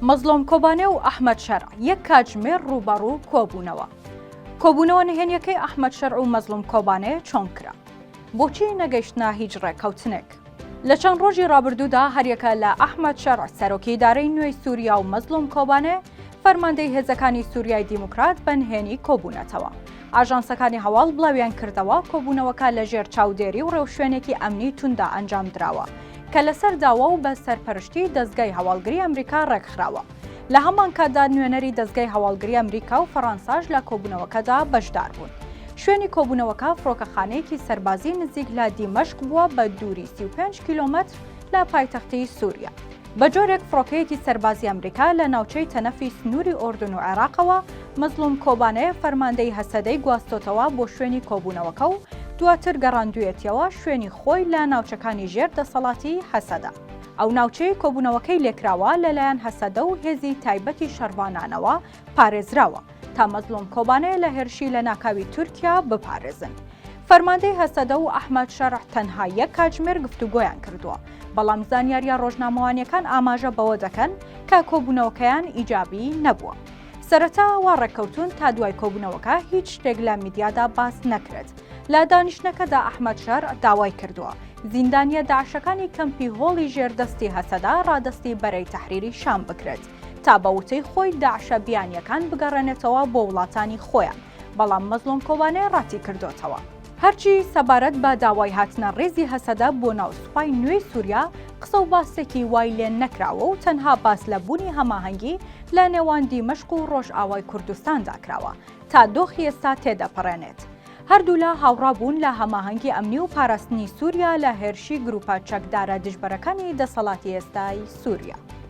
مەزڵۆم کۆبانێ و ئەحمەد شەرع یەک کاتژمێر ڕووبەڕوو کۆبوونەوە. کۆبوونەوە نهێنیەکەی ئەحمەد شەرع و مەزڵوم کۆبانێ چۆن کرا؟ بۆچی نەگەیشتنە هیچ ڕێککەوتنێک؟ لە چەند ڕۆژی ڕابردوودا هەریەکە لە ئەحمەد شەرع سەرۆکی ئیدارەی نوێی سووریا و مەزڵوم کۆبانێ فەرماندەی هێزەکانی سووریای دیموکرات بە نهێنی کۆبوونەتەوە. ئاژانسەکانی هەواڵ بڵاویانکردەوە، کۆبوونەوەکە لەژێر چاودێری و ڕێوشوێنێکی ئەمنی تونددا ئەنجامدراوە، کە لەسەر داوا و بە سەرپەرشتیی دەزگای هەواڵگری ئەمریکا ڕێکخراوە. لە هەمانکاتدا نوێنەری دەزگای هەواڵگری ئەمریکا و فەڕەنساش لە کۆبوونەوەکەدا بەشداربوون. شوێنی کۆبوونەوەکە فڕۆکەخانەیەکی سەربازیی نزیک لە دیمەشق بووە بە دووری سی و پێنج کیلۆمەتر لە پایتەختی سووریا. بە جۆرێک فڕۆکەیەکی سەربازی ئەمریکا لە ناوچەی تەنەفی سنووری ئۆردون و عێراقەوە مەزڵوم کۆبانێ فەرماندەی هەسەدەی گواستۆتەوە بۆ شوێنی کۆبوونەوەکە و دواتر گەڕاندوویەتیەوە شوێنی خۆی لە ناوچەکانی ژێر دەسەڵاتی هەسەدە. ئەو ناوچەی کۆبوونەوەکەی لێکراوە لەلایەن هەسەدە و هێزی تایبەتی شەڕڤانانەوە پارێزراوە تا مەزلوم کۆبانێ لە هێرشی لە ناکاوی تورکیا بپارێزن. فەرماندەی هەسەدە و ئەحمەد شەرع تەنها یەک کاتژمێر گفتوگۆیان کردووە، بەڵام زانیاریە ڕۆژنامەوانیەکان ئاماژە بەوە دەکەن کە کۆبوونەوەکەیان ئیجابی نەبووە. سەرەتا وا ڕێککەوتون تا دوای کۆبوونەوەکە هیچ شتێک لە میدیادا باس نەکرێت. لە دانیشتنەکەدا ئەحمەد شەرع داوای کردووە زیندانیە داعشەکانی کەمپی هۆڵی ژێردەستی هەسەدە ڕادەستی بەرەی تەحریری شام بکرێت. تا بە وتەی خۆی داعشە بیانییەکان بگەڕێنێتەوە بۆ وڵاتانی خۆیان، بەڵام مەزڵوم کۆبانێ ڕەتیکردۆتەوە. هەرچی سەبارەت بە داوای هاتنە ڕیزی هەسەدە بۆ ناو سوپای نوێی سوریا، قسە و باسێکی وای لێ نەکراوە و تەنها باس لە بوونی هەماهەنگی لە نێوان دیمەشق و ڕۆژئاوای کوردستاندا کراوە تا دۆخی ئێستا تێدەپەڕێنێت. هەردوولا هاوڕا بوون لە هەماهەنگی ئەمنی و پاراستنی سوریا لە هێرشی گروپە چەکدارە دژبەرەکانی دەسەڵاتی ئێستای سوریا.